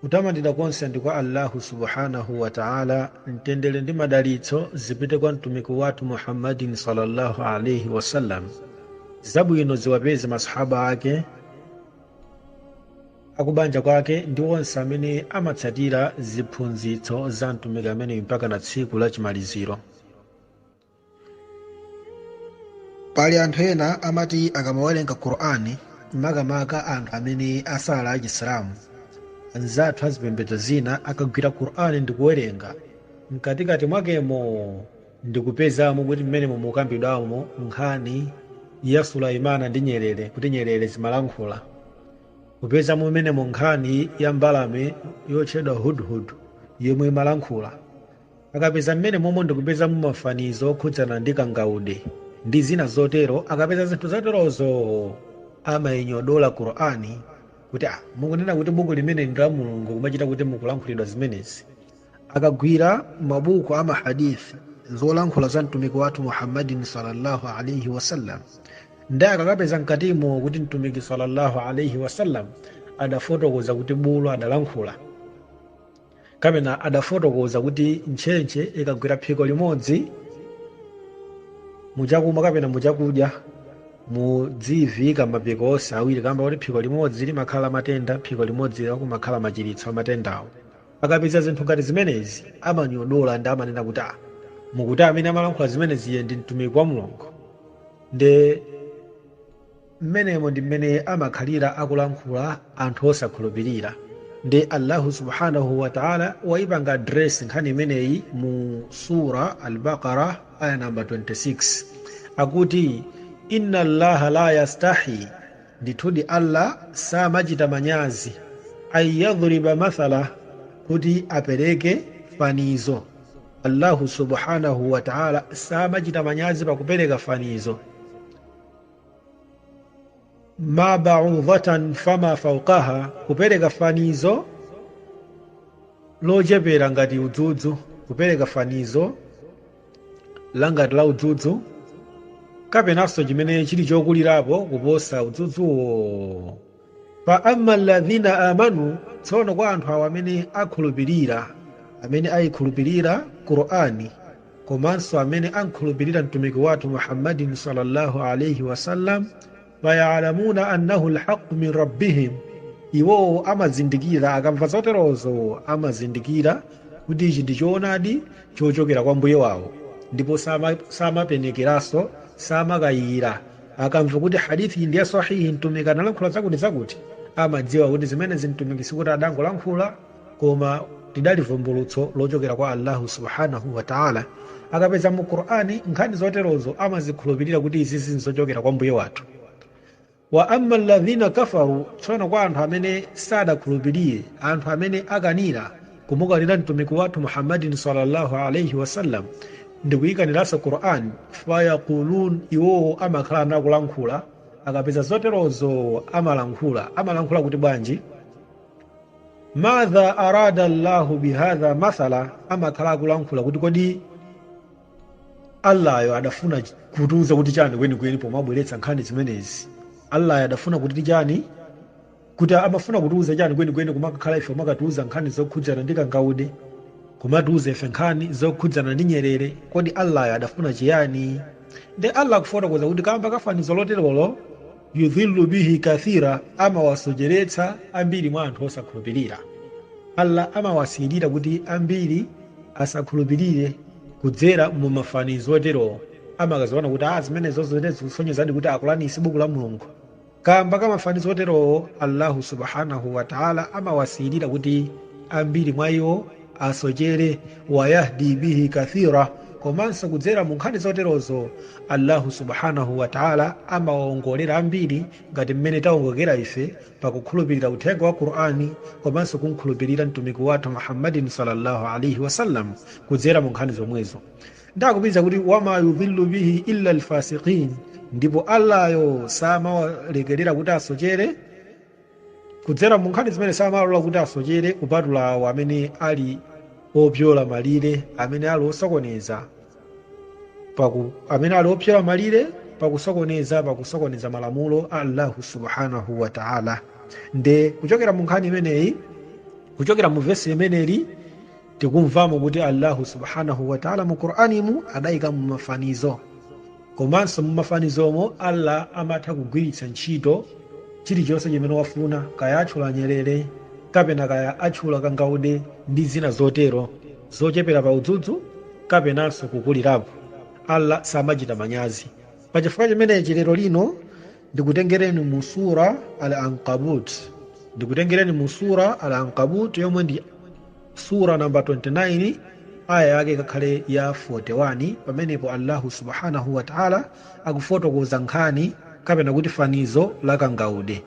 Kutamandidwa konse ndi kwa Allahu subhanahu wa ta'âlâ, mtendere ndi madalitso zipite kwa Mtumiki wathu Muhammadin sallallâhu alaihi wa sallam, zabwino ziwapeze Masahaba ake, akubanja kwake ndi onse amene amatsatira ziphunzitso za Mtumiki ameneyu mpakana tsiku la chimaliziro. pali anthu ena amati akamawerenga qur'ani makamaka anthu amene asala Chisilamu anzathu azipembedzo zina akagwira qur'ani ndikuwerenga mkatikati mwakemo ndikupezamo kuti mmenemo mukambidwamo nkhani ya sulaimana ndi nyerere kuti nyerere zimalankhula kupezamo mmenemo nkhani ya mbalame yotchedwa hudhud yomwe imalankhula Akapeza mmenemomo ndikupezamo mafanizo okhudzana ndi kangaude ndi zina zotero, akapeza zinthu zoterozo amainyodola Qur'an kuti ah mukunena kuti buku limeneli ndi la Mulungu kumachita kuti mukulankhulidwa zimenezi. Akagwira mabuku a ma Hadith, zolankhula za Mtumiki wathu Muhammadin sallallâhu alaihi wa sallam, nde akakapeza mkatimo kuti Mtumiki sallallâhu alaihi wa sallam adafotokoza kuti bulu adalankhula, kapena adafotokoza kuti ntchentche ikagwera phiko limodzi muchakumwa kapena muchakudya mudziyiviika mapiko onse awiri kamba kuti phiko limodzi limakhala matenda phiko limodzi kumakhala machiritso amatendawo akapeza zinthu ngati zimenezi amanyodola ndi amanena kuti ah mukuti amene amalankhula zimenezi iye ndi mtumiki wa mulungu nde Mmenemo ndi mmene amakhalira akulankhula anthu osakhulupirira. Ndiye Allahu subhanahu wa ta'âlâ waipanga address nkhani imeneyi mu Surah Al Baqarah ayah number 26. Akuti, Inna Allaha la yastahi, Ndithudi Allah samachita manyazi, an yadhriba mathala, kuti apereke fanizo. Allahu subhanahu wa ta'âlâ samachita manyazi pakupereka fanizo. ma ba'udhatan fama fawqaha kupereka fanizo lochepera ngati udzudzu kupereka fanizo langati la udzudzu kapenanso chimene chili chokulirapo kuposa udzudzuwo Fa amma alladhina amanu, tsono kwa anthu awo amene akhulupirira, amene ayikhulupirira Qur'aan komanso amene amkhulupirira Mtumiki wathu Muhammadin sallallâhu alaihi wa sallam, fa ya'lamuna annahu al-haqqu min Rabbihim, iwowo amazindikira, akamva zoterozo amazindikira kuti ichi ndi choonadi chochokera kwa Mbuye wawo ndipo samapenekeranso, samakayikira. akamva kuti hadithi ndi ya sahihi mtumiki analankhula zakuti zakuti amadziwa kuti zimenezi mtumiki sikuti adangolankhula koma lidali vumbulutso lochokera kwa allahu subhanahu wataala akapeza mu qur'ani nkhani zoterozo amazikhulupirira kuti izizi nzochokera kwa mbuye wathu wa amma alladhina kafaru tsono kwa anthu amene sadakhulupirire anthu amene akanira kumukanira mtumiki wathu muhammadin sallallahu alaihi wasallam ndikuyikaniranso quran fayaqulun iwowo amakhala nakulankhula akapeza zoterozo amalankhula amalankhula kuti bwanji madha arada llahu bihadha mathala amakhala akulankhula kuti kodi allayo adafuna kutiuza kuti chani kwenikweni pomabweretsa nkhani zimenezi allayo adafuna kuti chani kuti amafuna kutiuza chani kwenikweni kumakakhala ife kumakatiuza nkhani zokhudzana ndi kangaude kumatiuza ife nkhani zokhudzana ndi nyerere kodi allayo adafuna chiyani nde allah akufotokoza kuti kamba ka fanizo loterolo yudhillu bihi kathira amawasocheretsa ambiri mwa anthu osakhulupirira allah amawasiyirira kuti ambiri asakhulupirire kudzera mu mafanizo oterowo amakaziona kuti a zimenezo zikusonyezadi kuti a kurani si buku la mulungu Kamba ka mafanizo oterowo, Allahu subhanahu wa ta'âlâ amawasiyirira kuti ambiri mwa iwo asochere, wa yahdi bihi kathira, komanso kudzera mu nkhani zoterozo Allahu subhanahu wa ta'âlâ amawaongolera ambiri ngati mmene taongokera ife pa kukhulupirira uthenga wa Qur'an komanso kum'khulupirira Mtumiki wathu Muhammadin sallallâhu alaihi wa sallam kudzera mu nkhani zomwezo. nde akupitiriza kuti wama yudhillu bihi illa alfasiqin ndipo allayo samawalekerera kuti asochere kudzera mu nkhani zimenezi samawalola kuti asochere kupatula awo amene ali opyola malire amene ali osokoneza paku amene ali opyola malire pakusokoneza pakusokoneza malamulo a allahu subhanahu wa taala nde kuchokera mu nkhani imeneyi kuchokera mu vesi limeneli Tikumvamo kuti Allahu subhanahu wa Ta'la mu Quranimu adaikamo mafanizo. Komanso mu mafanizomo Allah amatha kugwiritsa ntchito chilichonse chimene wafuna, kaya atchula nyerere, kapena kaya atchula kangaude ndi zina zotero, zochepera pa udzudzu kapenanso kukulirapo. Allah samachita manyazi. Pachifukwa chimenechi lero lino ndikutengereni mu sura al ankabut ndikutengereni mu sura al ankabut yomwe ndi sura namba 29 aya yake ikakhale ya 41 pamenepo allahu subhanahu wataala akufotokoza nkhani kapena kuti fanizo la kangaude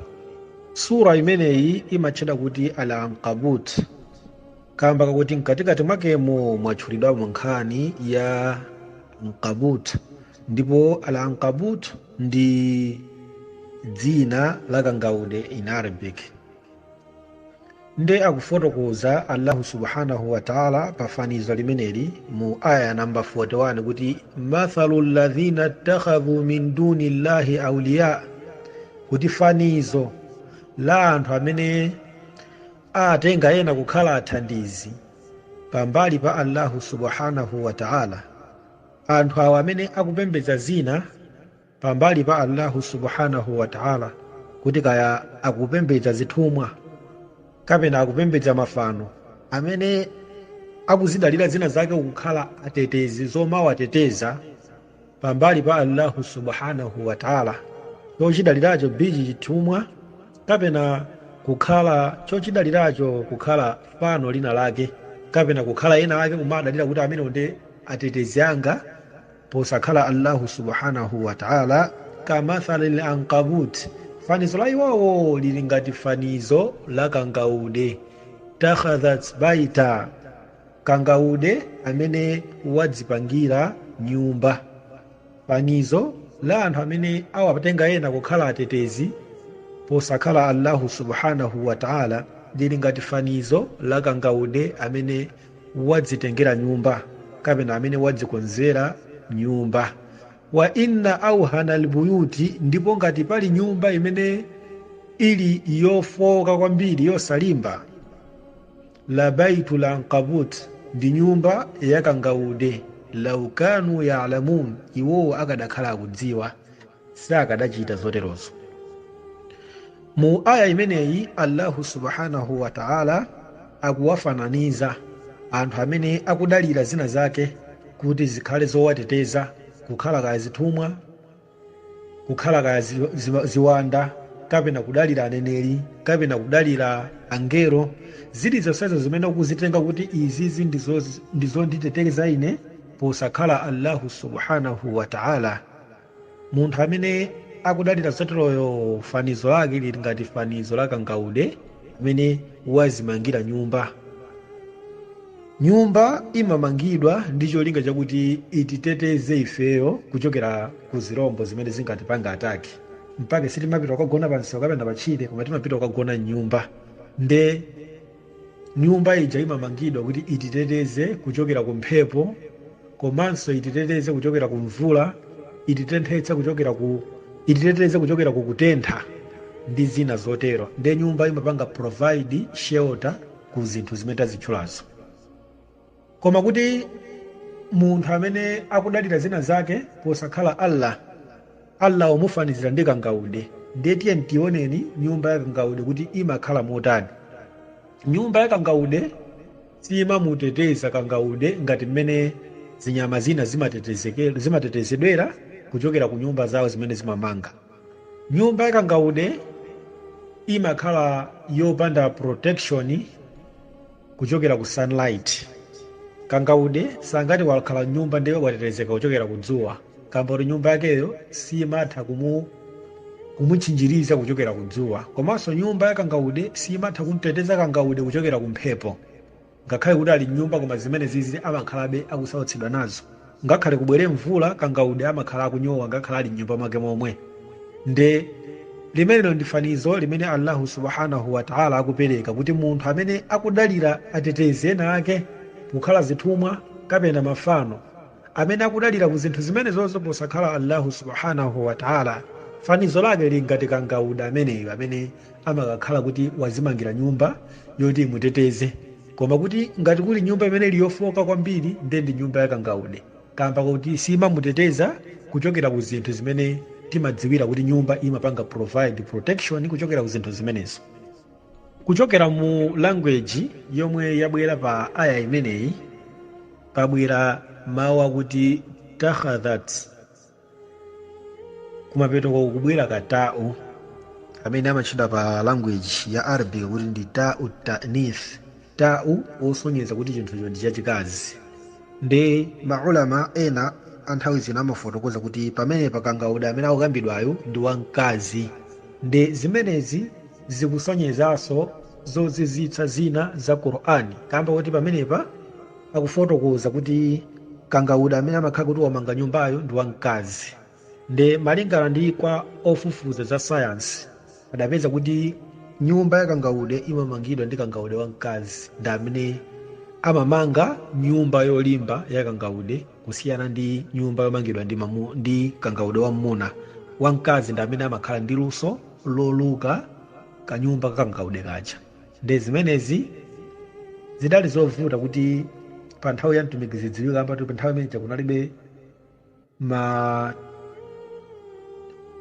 sura imeneyi imatchedwa kuti al ankabut kamba kakuti mkatikati mwakemo mwatchulidwamo nkhani ya ankabut ndipo al ankabut ndi dzina la kangaude in arabic nde akufotokoza allahu subhanahu wataala pa fanizo limeneli mu aya namba 41 kuti mathalu ladhina ttakhadhu min duni llahi auliya kuti fanizo la anthu amene atenga ena kukhala athandizi pambali pa allahu subhanahu wataala Anthu awo amene akupembedza zina pambali pa Allahu subhanahu wa ta'âlâ kuti kaya akupembedza zithumwa kapena akupembedza mafano, amene akuzidalira zina zake kukhala atetezi, zomawateteza, pambali pa Allahu subhanahu wa ta'âlâ, chochidaliracho bchi chithumwa kapena kukhala chochidaliracho kukhala fano lina lake kapena kukhala ena ake kumadalira kuti amenewo ndi. atetezi anga posakhala allahu subhanahu wataala kamathali l ankabut fanizo la iwowo lili ngati fanizo la kangaude takhadhat baita kangaude amene wadzipangira nyumba fanizo la anthu amene awatenga ena kukhala atetezi posakhala allahu subhanahu wataala lili ngati fanizo la kangaude amene wadzitengera nyumba kapena amene wadzikonzera nyumba. Wa inna awhanal buyuti, ndipo ngati pali nyumba imene ili yofooka kwambiri, yosalimba, la baitul ankabut, ndi nyumba ya kangaude, law kanu ya'lamun, iwowo akanakhala akudziwa. sakanachita zoterozo mu aya imeneyi allahu subhanahu wa ta'ala akuwafananiza anthu amene akudalira zina zake kuti zikhale zowateteza kukhala kaya zithumwa kukhala kaya zi, zi, ziwanda kapena kudalira aneneri kapena kudalira angelo zili zonsezo zimene ukuzitenga kuti izizi ndizo- ndizonditeteza ine posakhala allahu subhanahu wa ta'ala Munthu amene akudalira zoterozo fanizo lake lili ngati fanizo la kangaude amene wazimangira nyumba. Nyumba imamangidwa ndi cholinga chakuti ititeteze ifeyo kuchokera ku zirombo zimene zingatipange ataki. Mpake sitimapita kukagona pamsewu kapena patchire, koma timapita kukagona m'nyumba. Nde Nyumba ija imamangidwa kuti ititeteze kuchokera ku mphepo komanso ititeteze kuchokera ku mvula, ititenthetsa kuchokera ku, ititeteze kuchokera ku kutentha ndi zina zotero. Nde nyumba imapanga provide shelter ku zinthu zimene tazitchulazo. Koma kuti munthu amene akudalira zina zake posakhala Allah, Allah wamufanizira ndi kangaude. Ndiye tiyeni tioneni nyumba ya kangaude kuti imakhala motani. Nyumba ya kangaude siyimamuteteza kangaude ngati mmene zinyama zina zimatetezeke, zimatetezedwera kuchokera ku nyumba zawo zimene zimamanga. Nyumba ya kangaude imakhala yopanda protection kuchokera ku sunlight. Kangaude sangati wakhala m'nyumba ndiye watetezeka kuchokera ku dzuwa kamba kuti nyumba yakeyo simatha kumu kumutchinjiriza kuchokera ku dzuwa. Komanso nyumba ya kangaude simatha kumteteza kangaude kuchokera ku mphepo. Ngakhale kuti ali mnyumba koma zimenezizi amakhalabe akusautsidwa nazo. Ngakhale kubwere mvula kangaude amakhala akunyowa ngakhale ali mnyumba mwake momwe. Nde Limenelo ndi fanizo limene Allahu subhanahu wa Ta'ala akupereka kuti munthu amene akudalira atetezi ena ake kukhala zithumwa kapena mafano, amene akudalira ku zinthu zimenezozo posakhala Allahu subhanahu wa Ta'ala, fanizo lake lili ngati kangaude ameneyo amene amakakhala kuti wazimangira nyumba yoti imuteteze koma kuti ngati kuli nyumba imene ili yofooka kwambiri ndiye ndi nyumba ya kangaude kaamba kakuti siimamuteteza kuchokera ku zinthu zimene timadziwira kuti nyumba imapanga provide protection kuchokera ku zinthu zimenezo. Kuchokera mu language yomwe yabwera pa aayah imeneyi pabwera mau akuti takhadhat. kumapeto kwake kukubwera ka ta'u amene amatchedwa pa language ya arabic kuti ndi ta'u ta'nith ta'u wosonyeza kuti chinthucho ndi chachikazi ndi maulama ena anthawi zina amafotokoza kuti pamenepa kangaude amene akukambidwayo ndi wamkazi ndi zimenezi zikusonyezanso zozizwitsa zina za qur'ani kamba kuti pamenepa akufotokoza kuti kangaude amene amakhala kuti wamanga nyumbayo ndi wamkazi nde malingana ndi kwa ofufuza za sayansi adapeza kuti nyumba ya kangaude imamangidwa ndi kangaude wamkazi ndi amene amamanga nyumba yolimba ya kangaude kusiyana ndi nyumba yomangidwa ndi, mamu, ndi kangaude wammuna wamkazi ndi amene amakhala ndi luso loluka kanyumba ka kangaude kaja nde zimenezi zidali zovuta kuti pa nthawi ya mtumiki zidziwike kamba kuti pa nthawi imene ija kunalibe ma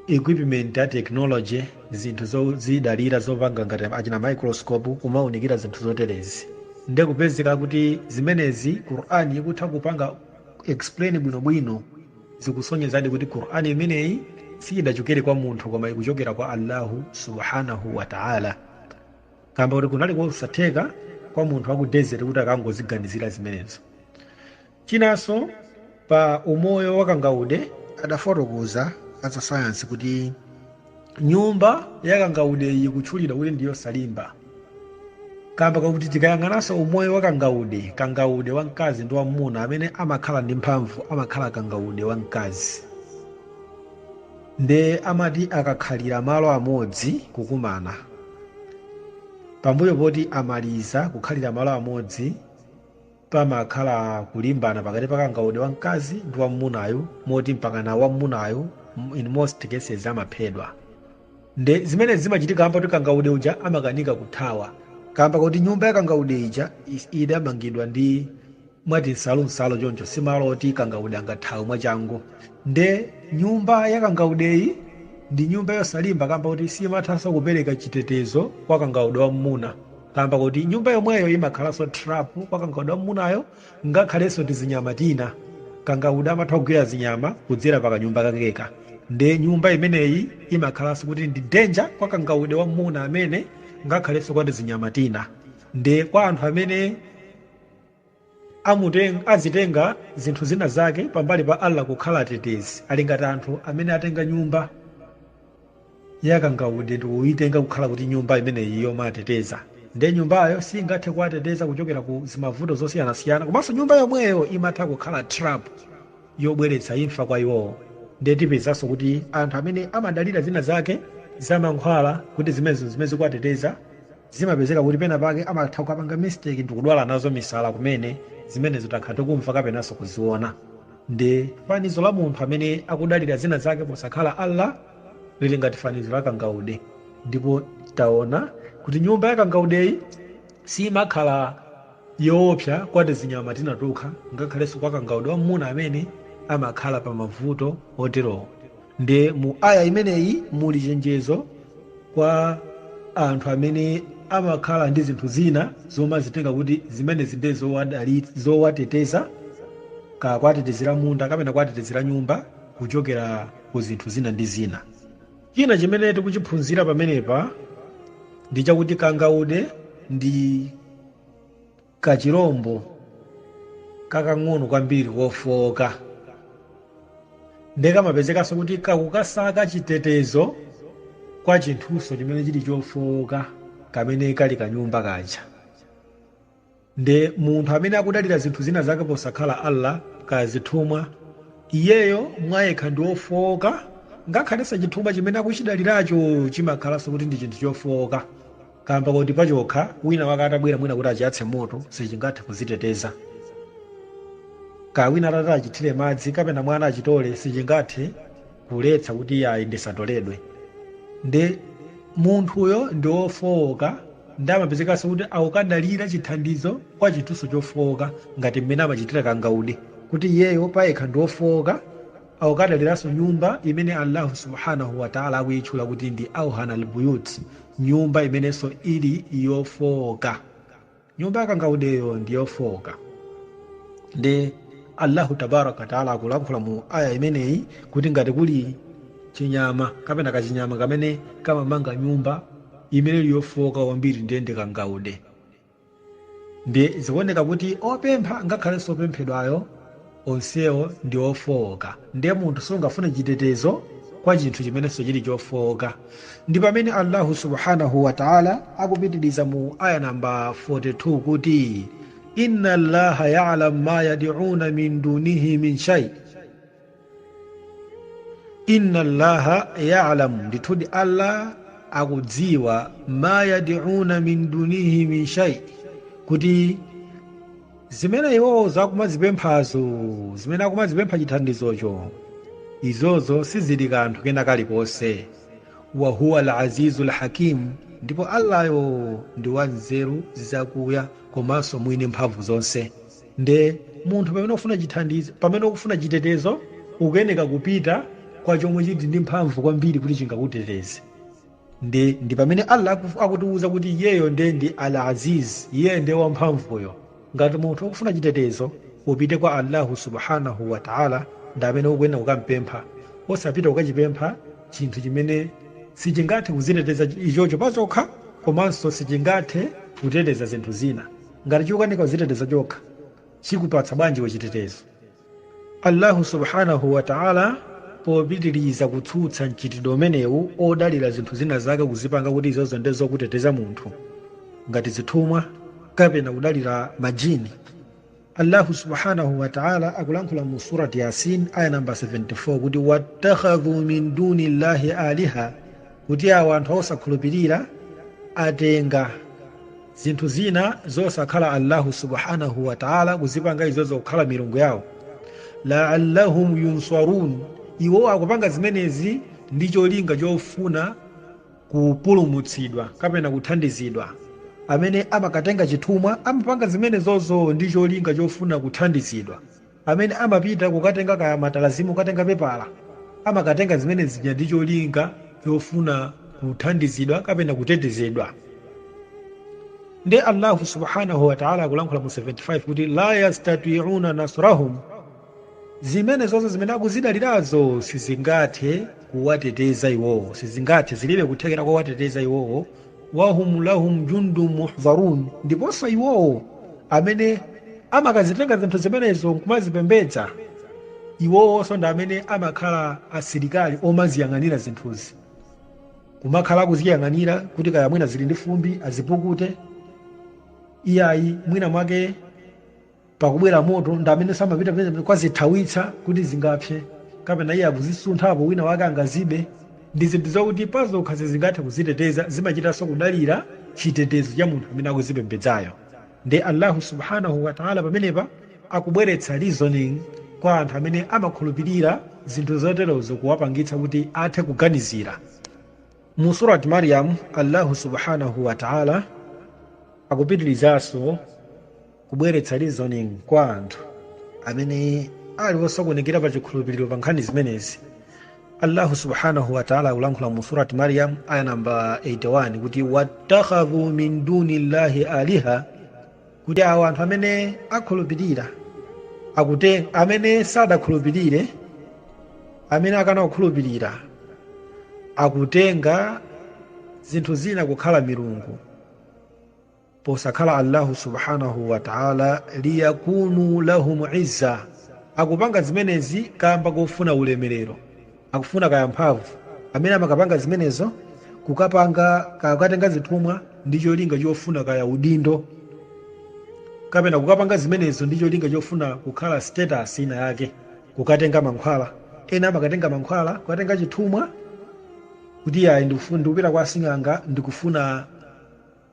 equipment a technology zinthu zozidalira zopanga ngati achina microscope kumaunikira zinthu zoterezi nde kupezeka kuti zimenezi qur'ani ikutha kupanga explain bwinobwino zikusonyezadi kuti qur'ani imeneyi siyidachokere kwa munthu koma ikuchokera kwa allahu subhanahu wataala kamba kuti kunali kosatheka kwa munthu wa ku desert kuti akangoziganizira zimenezo chinanso pa umoyo wa kangaude adafotokoza azasayansi kuti nyumba ya kangaudeyi ikutchulidwa kuti ndi yosalimba kamba kakuti tikayang'ananso umoyo wa kangaude kangaude wa mkazi ndi wamuna amene amakhala ndi mphamvu amakhala kangaude wa mkazi Nde amati akakhalira malo amodzi kukumana. Pambuyo poti amaliza kukhalira malo amodzi pamakhala kulimbana pakati pa kangaude wamkazi ndi wammunayu moti mpakana wammunayu in most cases amaphedwa. Nde zimenezi zimachitika kamba kuti kangaude uja amakanika kuthawa kamba kuti nyumba ya kangaude ija idamangidwa ndi mwati nsalunsalu choncho si malo oti kangaude angathawe mwachangu nde nyumba ya kangaudeyi ndi nyumba yosalimba kamba kuti simathanso kupereka chitetezo kwa kangaude wa mmuna kamba kuti nyumba yomweyo imakhalanso trap kwa kangaude wa mmunayo ngakhalenso tizinyama tina kangaude amatha kugwira zinyama kudzera pa kanyumba kakeka nde nyumba imeneyi imakhalanso kuti ndi danger kwa kangaude wa mmuna amene ngakhalenso kwa tizinyama tina nde kwa anthu amene amuteng, azitenga zinthu zina zake pambali pa Allah kukhala atetezi, ali ngati anthu amene atenga nyumba ya kangaude ndikuitenga kukhala kuti nyumba imeneyi yomawateteza, nde nyumbayo singathe kuwateteza kuchokera ku zimavuto zosiyanasiyana, komanso nyumba yomweyo imatha kukhala trap yobweretsa imfa kwa iwowo, nde tipezanso kuti anthu amene amadalira zina zake za mankhwala kuti zimenezo nzimene zikuwateteza, Zimapezeka kuti pena pake amatha kukapanga mistake ndikudwala nazo misala kumene zimenezo takhala tikumva kapenanso kuziona. Nde fanizo la munthu amene akudalira zina zake posakhala Allah lili ngati fanizo la kangaude. Ndipo taona kuti nyumba ya kangaudeyi siimakhala yoopsa kwa tizinyama tina tokha ngakhalenso kwa kangaude wammuna amene amakhala pa mavuto oterowo. Nde mu aayah imeneyi muli chenjezo kwa anthu amene amakhala ndi zinthu zina zomazitenga kuti zimenezi nde zowadali- zowateteza, kaya kuwatetezera munda kapena kuwatetezera nyumba kuchokera ku zinthu zina ndi zina. China chimene tikuchiphunzira pamenepa ndi chakuti kangaude ndi. Kachilombo kakang'ono kwambiri kofooka ndiye kamapezekanso kuti kakukasaka chitetezo kwa chinthunso chimene chili chofooka kamene kali kanyumba kaja. Ndiye munthu amene akudalira zinthu zina zake posakhala Allah, kaya zithumwa, iyeyo mwayekha ndi wofooka, ngakhalenso chithumwa chimene akuchidaliracho chimakhalanso kuti ndi chinthu chofooka. kaamba koti pachokha, wina wake atabwera mwina kuti achiyatse moto, sichingathe kudziteteza. Kaya wina atati achithire madzi kapena mwana achitole, sichingathe kuletsa kuti iyayi ndisatoledwe. Nde munthuyo ndi wofooka nde amapezekanso kuti akukadalira chithandizo kwa chinthunso chofooka ngati mmene amachitira kangaude kuti iyeyo payekha ndi wofooka, Akukadaliranso nyumba imene Allahu subhanahu wa ta'ala akuitchula kuti ndi awhanal buyut, nyumba imenenso ili yofooka. Nyumba ya kangaudeyo ndi yofooka. Nde Allahu tabaaraka wa ta'ala akulankhula mu aayah imeneyi kuti ngati kuli chinyama kapena kachinyama kamene kamamanga nyumba imene ili yofooka kwambiri ndiye ndi kangaude. Ndiye zikuoneka kuti opempha ngakhalenso opemphedwayo onsewo ndi ofooka. Ndiye munthu sungafune chitetezo kwa chinthu chimenenso chili chofooka. Ndi pamene Allahu subhanahu wa Ta'la akupitiriza mu Ayah number 42 kuti, Inna Allaha ya'lam ma yad'una min dunihi min shai. inna allaha yalamu ndithudi allah akudziwa ma yadiuna min dunihi min shai kuti zimene iwowo akumazipemphazo zimene akumazipempha chithandizocho izozo sizili kanthu kena kalikonse wahuwa alazizu lhakimu ndipo allayo ndi wanzeru zakuya komanso mwini mphamvu zonse Nde munthu pamene ufuna chithandizo, pamene ukufuna chitetezo ukuyeneka kupita kwa chomwe chili ndi mphamvu kwambiri kuti chingakuteteze. Nde ndi pamene Allah akutiuza kuti iyeyo nde ndi Al-Aziz, iyeyo nde wamphamvuyo. Ngati munthu ukufuna chitetezo upite kwa Allahu subhanahu wa Ta'la ndi amene ukuyeneka kukampempha, osapita kukachipempha chinthu chimene sichingathe kudziteteza ichocho pachokha komanso sichingathe kuteteza zinthu zina. Ngati chikukanika kudziteteza chokha, chikupatsa bwanji iwe chitetezo? Allahu subhanahu wa ta'âlâ popitiriza kutsutsa mchitidwe umenewu odalira zinthu zina zake kuzipanga kuti izozo ndiye zokuteteza munthu, ngati zithumwa kapena kudalira ma jini, Allahu subhanahu wa ta'âlâ akulankhula mu Surat Yasin ayah number 74 kuti, Wattakhadhu min dunillahi aliha, kuti awo anthu osakhulupirira atenga zinthu zina zosakhala allahu subhanahu wataala kuzipanga izozo kukhala milungu yawo laallahum yunsarun iwo akupanga zimenezi ndi cholinga chofuna kupulumutsidwa kapena kuthandizidwa amene amakatenga chithumwa amapanga zimenezozo ndi cholinga chofuna kuthandizidwa Amene amapita kukatenga kaya matalazimu kukatenga pepala, amakatenga zimene zija ndi cholinga chofuna kuthandizidwa kapena kutetezedwa. Nde Allahu subhanahu wa Ta'ala akulankhula mu 75 kuti laa yastati'una nasrahum, zimene zonse zimene akuzidalirazo sizingathe kuwateteza iwowo, sizingathe, zilibe kuthekera kowateteza iwowo wahum lahum jundun muhdharun, ndiponso iwowo amene amakazitenga zinthu zimenezo nkumazipembedza, iwowonso ndi amene amakhala asilikali omaziyang'anira zinthuzi, kumakhala akuziyang'anira kuti kaya mwina zili ndi fumbi azipukute, iyayi mwina mwake pakubwera moto ndi amenenso amapita pamene kukazithawitsa kuti zingapse kapena iye akuzisunthapo wina wake angazibe ndi zinthu zakuti pazokha sizingathe kuziteteza zimachitanso kudalira chitetezo cha munthu amene akuzipembedzayo nde allahu subhanahu wataala pamenepa akubweretsa reasoning kwa anthu amene amakhulupirira zinthu zoterozo kuwapangitsa kuti athe kuganizira mu surat maryam allahu subhanahu wataala akupitirizanso Kubweretsa reasoning kwa anthu amene ali osokonekera pa chikhulupiriro pa nkhani zimenezi. Allahu subhanahu wa ta'ala akulankhula mu Surat Maryam aya namba 81 kuti wattakhadhu min dunillahi aliha kuti awo anthu amene akhulupirira amene sadakhulupirire amene akana kukhulupirira akutenga zinthu zina kukhala milungu posakhala Allahu subhanahu wa ta'ala liyakunu lahum izza akupanga zimenezi kamba kofuna ulemerero akufuna kaya mphamvu amene amakapanga zimenezo kukapanga kaya kukatenga zithumwa ndi cholinga chofuna kaya udindo kapena kukapanga zimenezo ndi cholinga chofuna kukhala status ina yake kukatenga mankhwala ena amakatenga mankhwala kukatenga chithumwa kuti ayi ndikupita kwa sing'anga ndikufuna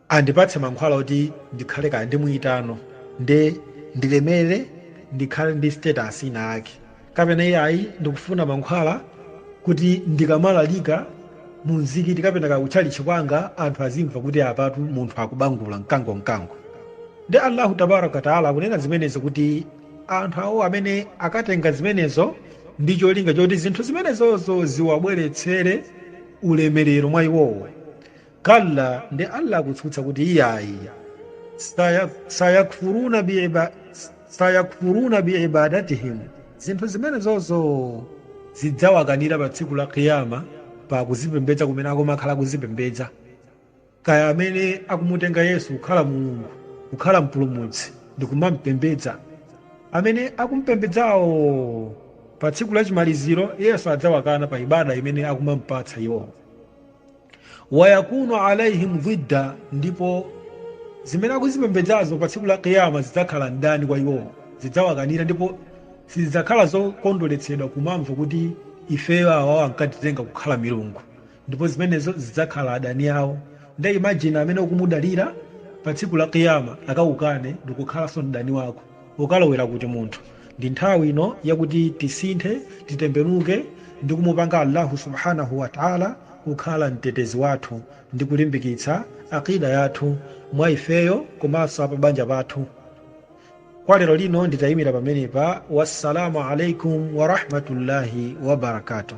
Andipatse mankhwala oti ndikhale kaya ndi muitano nde ndilemere ndikhale ndi status ina yake kapena iyayi ndikufuna mankhwala kuti ndikamalalika mu mzikiti kapena kaya ku tchalitchi kwanga anthu azimva kuti apatu munthu akubangula mkango mkango. Nde Allahu tabaaraka wa ta'ala akunena zimenezo kuti anthu awo amene akatenga zimenezo ndi cholinga choti zinthu zimenezozo ziwabweretsere ulemerero mwa iwowo, Kalla, ndi Allah akutsutsa kuti iyayi, sayakfuruna biibadatihim, zinthu zimenezozo zidzawakanira pa tsiku la Qiyama pa kuzipembedza kumene akumakhala akuzipembedza. Kaya amene akumutenga Yesu kukhala Mulungu, kukhala mpulumutsi ndi kumampembedza, amene akumpembedzawo pa tsiku la chimaliziro Yesu adzawakana pa ibada imene akumampatsa iwowo. wayakunu alaihim dhidda ndipo zimene akuzipembedzazo pa tsiku la kiyama zidzakhala mdani kwa iwowo zidzawakanira ndipo sizidzakhala zokondweretsedwa kumamva kuti ifeyo awawo ankatitenga kukhala milungu ndipo zimenezo zidzakhala adani awo nde imagine amene ukumudalira pa tsiku la kiyama akakukane ndikukhalanso mdani wako ukalowera kuti munthu ndi nthawi ino yakuti tisinthe titembenuke ndi kumupanga Allahu subhanahu wa ta'ala kukhala mtetezi wathu ndi kulimbikitsa aqida yathu mwa ifeyo komanso pabanja pathu kwa lero lino nditayimira pamenepa wassalamu alaikum wa rahmatullahi wa barakatuh